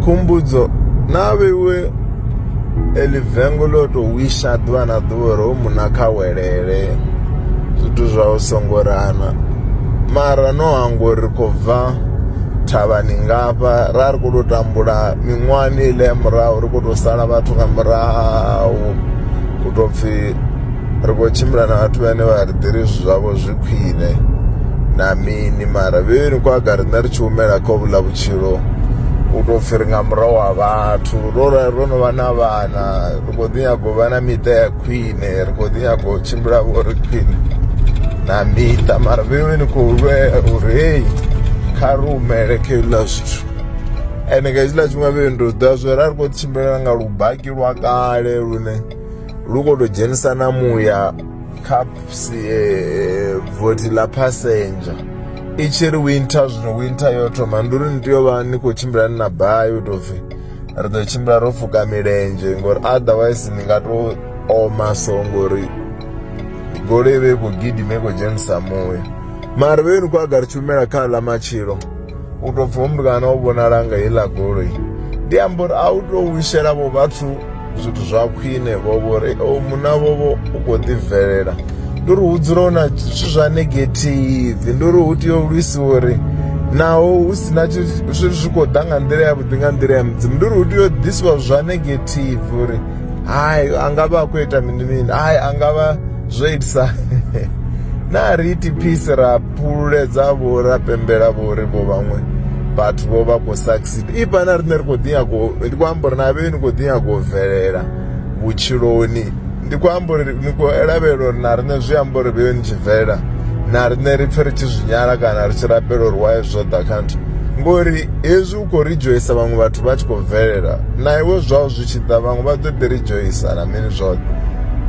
khumbudzo na vheiwe eli vengo ḽo to wisha ḓuvha na ḓuvha uri u muna kha welele zwithu zwa u songo rana mara no hangwa uri khou bva thavhani ngafha ra ri khou tou tambula miṅwahani ile ya murahu ri khou tou sala vhathu nga murahu u tou pfhi ri khou tshimbila na vhathu vhane vha ri ḓiri zwithu zwavho zwi khwine na mini mara vhevheni kwa ga riṋe ri tshi humela kha vhuḽa vhutshilo u tou pfhi ri nga murahu wa vhathu ro ro no vha na vhana ri khou ḓi nyaga u vha na miṱa ya khwine ri khou ḓi nyaga u tshimbila vho ri khwine na miṱa mara vhevheni khou lwela uri heyi kha ri humele kha hezwiḽa zwithu ende nga hetshiḽa tshifhinga vhevheni ri ḓivha zwo ri a ri khou tshimbila nga lubaki lwa kale lune lu khou tou dzhenisa na muya kha eh, vothi ḽa passenger i tshi ri winter zwino winter yo thoma ndi uri ni tea u vha ni khou tshimbila ni na bayi u tou pfhi ri ḓo tshimbila ro fuka milenzhe ngori otherwise ni nga tou oma so ngori goloi vhe i khou gidima i khou dzhenisa muya mara vhe ni khou aga ri tshumela kha ḽa matshilo u tou pfhi hoyu kana o vhonala nga heiḽa goloi ndi amba uri a u to wishela vho vhathu zwithu zwa khwine vho vhori o oh, muna vhovho u khou ḓi bvelela ndi uri hu dzula hu na zwithu zwa negative ndi uri hu tea u lwisiwa uri naho hu si na zwithu zwi khou ḓa nga nḓila ya vhuḓi nga nḓila ya mudzimu ndi uri hu tea u ḓisiwa zwa negative uri hayi a nga vha a khou ita mini mini hayi a nga vha zwo itisa na ri iti peace ra fhululedza vho ra pembela vho ri vho vhaṅwe vhathu vho vha khou succeed ipa na riṋe ri khou ḓi nyago ndi khou amba uri na vhe ni khou ḓi nyago u bvelela vhutshiloni ndi khou amba uri ni khou lavhelela uri na riṋe zwi amba uri vheyo ni tshi bvelela na riṋe ri pfe ri tshi zwi nyala kana ri tshi rabela uri waye zwo ḓa kha nthu ngori hezwi u khou ridzhoisa vhaṅwe vhathu vha tshi khou bvelela na iwe zwao zwi tshi ḓa vhaṅwe vha ḓo ḓi ridzhoisa na mini zwoṱhe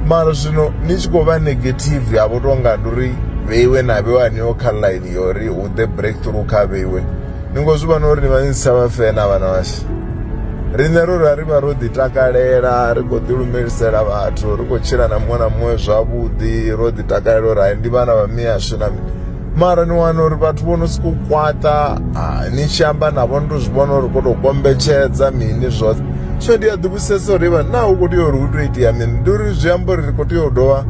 mara zwino ni tshi khou vha negative ya vho tonga ndi uri vheiwe na vheiwe haneo kha line ya uri hu ḓe breakthrough kha vheiwe ni ngo zwi vhona uri ni vha ni si tsha vha fena vhana vhashu riṋe ro ra ri vha ro ḓi takalela ri khou ḓi lumelisela vhathu ri khou tshila na muṅwe na muṅwe zwavhuḓi ro ḓi takalela uri hai ndi vhana vha miyashu na mini mara ni wana uri vhathu vho no sokou kwaṱa ni tshi amba navho ni to zwi vhona uri khou tou kombetshedza mini zwoṱhe so ndi a ḓi vhusesa uri vha naa hu khou tea uri hu tou itea mini ndi uri zwi amba uri ri khou tea u dovha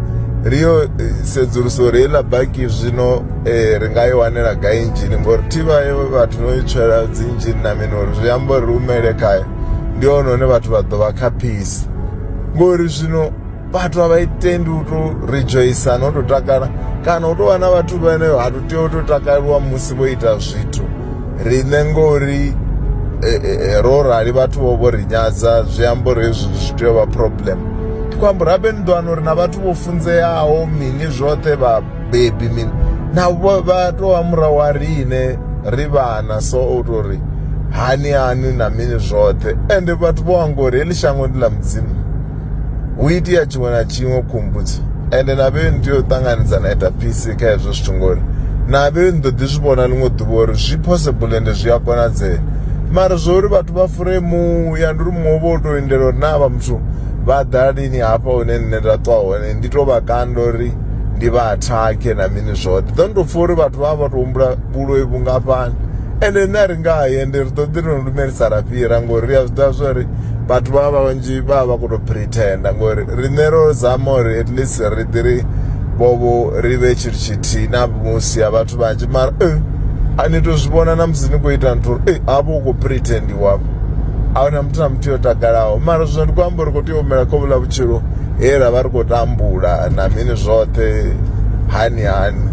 ri yo eh, sedzulusa uri heiḽa baki zwino eh, ri nga i wanela gai injini ngori thivha ye vhathu no i tswela dzi injini na mini uri zwi amba uri ri humele khayo ndi hone hone vhathu vha ḓo vha khaphisi ngori zwino vhathu a vha itendi u to rejoisa no to takala kana u to wana vhathu vhane ha to tea u to takaliwa musi vho ita zwithu riṋe ngori e, e, e, ro rali vhathu vho vho ri nyadza zwi amba uri hezwi zwi tea u vha problem ndi khou amba uri habe ni ḓo wana uri na vhathu vho funzeaho mini zwoṱhe vhabebi mini navho vha tou vha murahu wa riṋe ri vhana so u tou ri hani hani na mini zwoṱhe ende vhathu vho anga uri heḽi shango ndi ḽa mudzimu hu itea tshiṅwe na tshiṅwe khombudzi ende na vheyoni tea u ṱanganedza na ita phisi kha hezwo zwithu ngori na vheyoni ḓo ḓi zwi vhona ḽiṅwe ḓuvha uri zwi possible ende zwi a konadzea mara zwo uri vhathu vha fure muya ndi uri muṅwe vho tou lindela uri na vha muthu vha ḓa lini hafha hune nṋe nda ṱwa hone ndi to vha kanda uri ndi vha athakhe na mini zwoṱhe ḓo ndi to pfha uri vhathu vha vha vha to humbula vhuloi vhungafhani ende nṋe a ri nga ye ndi ri ḓo ḓi ri no lumelisa ra fhira ngori ri a zwi ḓivha zwa uri vhathu vha vha vhanzhi vha vha vha khou tou pretenda ngori riṋe ro zama uri at least ri ḓi ri vhovho ri vhe tshithu tshithihi na musi ya vhathu vhanzhi mara eh, a ni tou zwi vhona na musi ni khou ita nthu uri eh, hafho u khou pretendiwafho a huna muthu na muthu yo takalaho mara zwino ndi khou amba uri khou tea u humela khovhula vhutshilo he ra vha ri khou tambula na mini zwoṱhe hani hani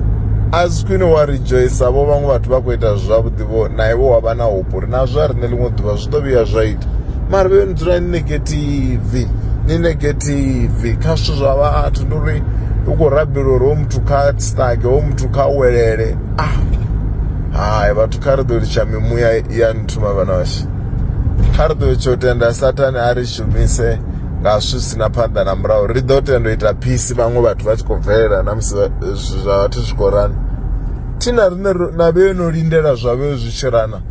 a si khwine wa ridzhoisa vho vhaṅwe vhathu vha khou ita zwavhuḓi vho na iwe wa vha na hope uri nazwo a riṋe ḽiṅwe ḓuvha zwi ḓo vhuya zwa ita mara vhe ni dzula ni negative ni negative kha zwithu zwa vhathu ndi uri u khou rabela uri hoyu muthu kha stage hoyu muthu kha welele ah hai vhathu kha ri ḓo litsha mimuya ya nthuma vhana vhashu kha ri ḓo tsho tenda sathane a ri shumise nga zwi si na phanḓa na murahu ri ḓo tenda u ita phisi vhaṅwe vhathu vha tshi khou bvelela na musi zwithu zwa vhathu zwi khou rana thi na riṋe na vhe no lindela zwa vhe zwi tshi rana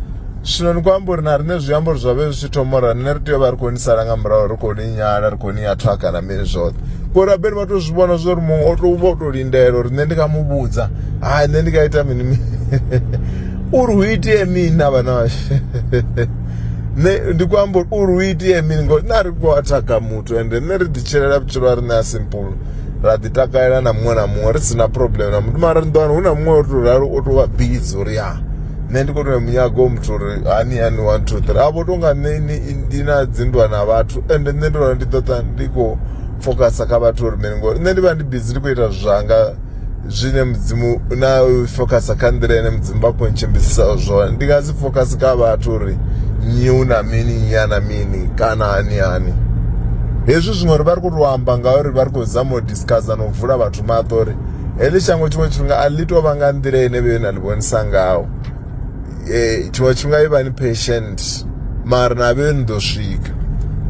zwino ni khou amba uri na riṋe zwi amba uri zwa vhe zwi tshi thoma uri riṋe ri tea u vha ri khou ni sala nga murahu ri khou ni nyala ri khou ni ya thwaka na mini zwoṱhe ngori rabeli vha to zwi vhona zwa uri muṅwe o to vha o to lindela uri nṋe ndi nga mu vhudza hai nṋe ndi nga ita mini mini uri hu itee mini na vhana vhashu nṋe ndi khou amba uri uri u itea mini ngori nṋe a ri khou athaga muthu ende nṋe ri ḓi tshilela vhutshilo ha riṋe a simple ra ḓi takalela na muṅwe na muṅwe ri si na problem na muthu mara ni ḓo wana hu na muṅwe o tou ralo o tou vha bizi uri ya nṋe ndi khou tou munyaga u muthu uri hani hani one two three a vho tou nga nṋe ndi na dzinndwa na vhathu ende nṋe ndo ralo ndi ḓo ṱa ndi khou focus kha vhathu uri mini ngori nṋe ndi vha ndi bizi ndi khou ita zwanga zwine mudzimu na focus kha nḓila ine mudzimu vha khou ntshimbidzisa zwone ndi nga si focus kha vhathu uri nyi u na mini nyi a na mini kana hani hani hezwi zwiṅwe uri vha ri khou tou amba ngauri vha ri khou zama u discussa na u vula vhathu maṱo uri heḽi shango tshiṅwe tshifhinga a ḽi tou vha nga nḓila ine vhe na ḽi vhonisa ngaho um tshiṅwe tshifhinga i vha ni patient mara na vhe ni ḓo swika